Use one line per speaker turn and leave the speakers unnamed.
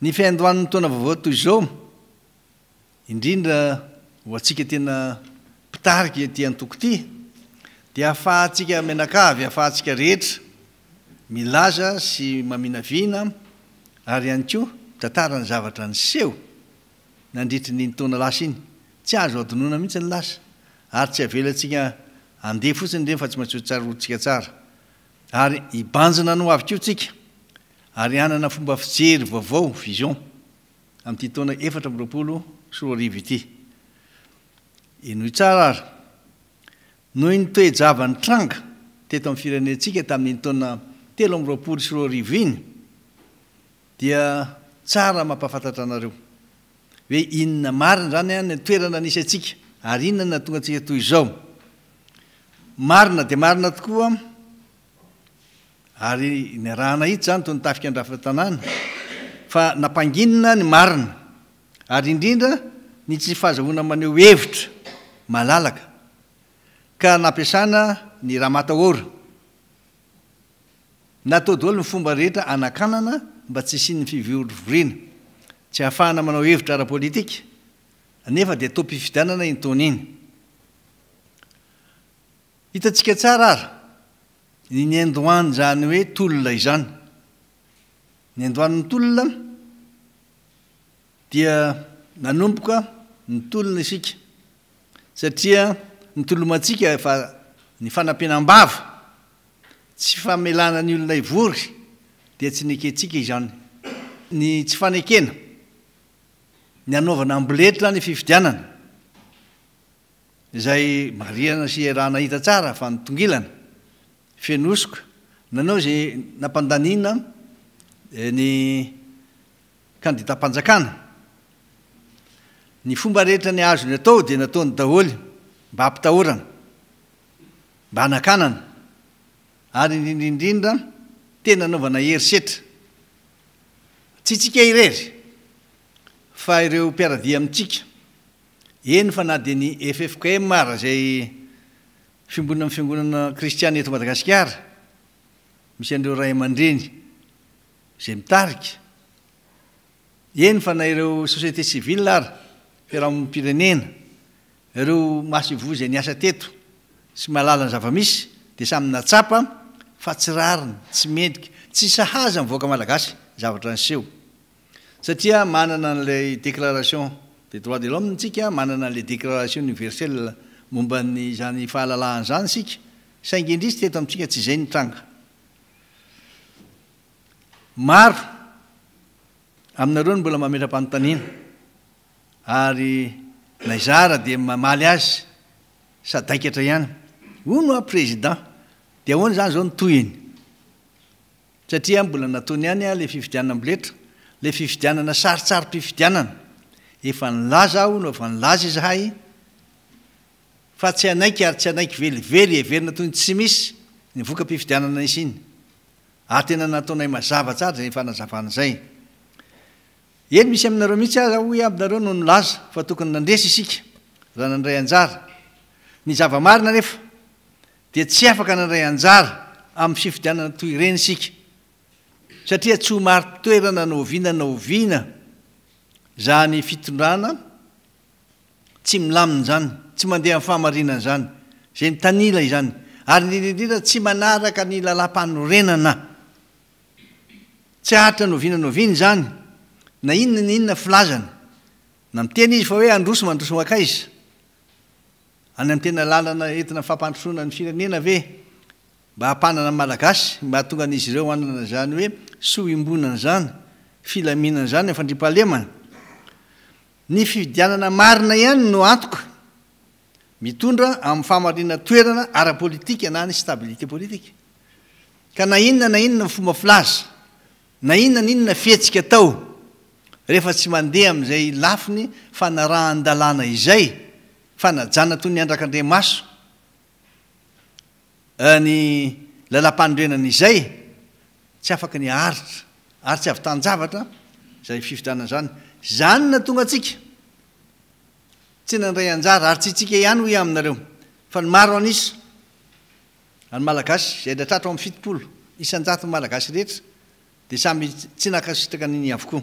Ny fiandohan'ny taona vaovao toy izao, indrindra ho antsika tena mpitarika ity antoko ity, dia ahafahantsika mianakavy, ahafahantsika rehetra milaza sy maminavina ary ihany koa mitantara ny zavatra niseho nandritry ny iny taona lasa iny. Tsy azo adinoina mihitsy ny lasa ary tsy avelantsika handeha fotsiny ireny fa tsy maintsy hotsaroantsika tsara. Ary hibanjina ny hoavy koa tsika ary hanana fomba fijery vaovao, vision, amin'ity taona efatra amby roapolo sy roa arivo ity. Henoy tsara ary. Noho iny toe-java nitranga teto amin'ny firenentsika tamin'iny taona telo amby roapolo sy roa arivo iny, Dia tsara mampahafantatra anareo. Hoe inona marina izany an ny toerana nisy antsika ary inona no nahatonga antsika toy izao. Marina dia marina tokoa ary niarahana hitsy izany toy ny tafika an-drafa-tanàna fa nampanginina ny marina ary indrindra ny tsy fahazahoana maneho hevitra malalaka ka nampiasana ny Ramatawora. Natao daholo ny fomba rehetra hanakanana mba tsy hisian'ny fivorovoriana, tsy hahafahana manao hevitra ara-politika, nefa dia taom-pifidianana iny taona iny. Hitantsika tsara ary ny niandohan'izany hoe tolona izany. Niandohan'ny tolona dia nanomboka nitolona isika, satria nitolomantsika fa ny fanampiana am-bava, Tsy famelana ny olona hivory dia tsy nekentsika izany. Ny tsy fanekena ny hanaovana amboletra ny fifidianana, izay marihana sy iarahana hita tsara fa nitongilana, feno hosoka, nanao izay nampandaniana ny kandidam-panjakana. Ny fomba rehetra ny azony atao dia nataony daholo mba hampitahorana. mba hanakanana ary indrindra indrindra tena hanaovana herisetra, tsy isika irery fa ireo mpiara-dia amintsika, eny fa na dia ny ffkm ara izay fiombonana amin'ny fiangonana kristiana eto Madagasikara, misy an'ireo ray aman-dreny izay mitarika, eny fa na ireo société civile ara, fiarahamonim-pirenena Ireo masoivoho izay niasa teto sy mahalala ny zava-misy dia samy natsapa fa tsy rariny, tsy mendrika, tsy sahaza ny vahoaka malagasy ny zavatra niseho. Satria manana an'ilay déclaration des droits de l'homme isika, manana an'ilay déclaration universelle momba an'izany fahalalahana izany isika, saingy indrisy teto amintsika tsy izay nitranga. Maro aminareo no mbola mametra-panontaniana. ary naizara dia mamaly azy sadaikatra ihany hono aho président dia ahoana izany izao ny tohiny satria mbola nataony ihany aho ilay fifidianana amboletra ilay fifidianana saritsarim-pifidianana efa nilaza aho hono efa nilaza izahay fa tsy hanaiky ary tsy hanaiky velively heverina toy ny tsy misy ny voka-pifidianana nisy iny ary tena nataonay mazava tsara izay fanazavana izay Eny, misy aminareo mihitsy aza, hoy aho aminareo, no nilaza fa tokony nandresy isika raha nandray anjara. Ny zava-marina anefa dia tsy afaka nandray anjara amin'ny fifidianana toy ireny isika, satria tsy ho marin-toerana na oviana na oviana izany fitondrana tsy milamina izany, tsy mandeha amin'ny fahamarinana izany, izay mitanila izany, ary indrindra indrindra tsy manaraka ny lalàmpanorenana. Tsy haharitra noviana noviana izany, na inona na inona filazana, na miteny izy fa hoe handroso mandroso mankaiza? Any amin'ny tena lalana entina fampandrosoana ny firenena ve? Mba hampanana ny Malagasy? Mba hahatonga an'izy ireo hanana izany hoe soa iombonana izany, filaminana izany amin'ny fandriampahalemana? Ny fifidianana marina ihany no antoka. Mitondra amin'ny fahamarinan toerana ara-politika na ny stabilité politique. Ka na inona na inona ny fomba filaza, na inona na inona fihetsika atao, rehefa tsy mandeha amin'izay lafiny fanarahan-dalàna izay, fanajana toy ny andrakandriamaso ny lalam-panorenana izay, tsy afaka ny haharitra, ary tsy havitan-javatra izay fifidianana izany. Izany no nahatonga antsika. Tsy nandray anjara ary tsy isika ihany hoy aho aminareo fa ny maro an'isa an'ny Malagasy izay adra tratro amin'ny fitopolo isan-jaton'ny Malagasy rehetra dia samy tsy nankasitraka an'iny avokoa.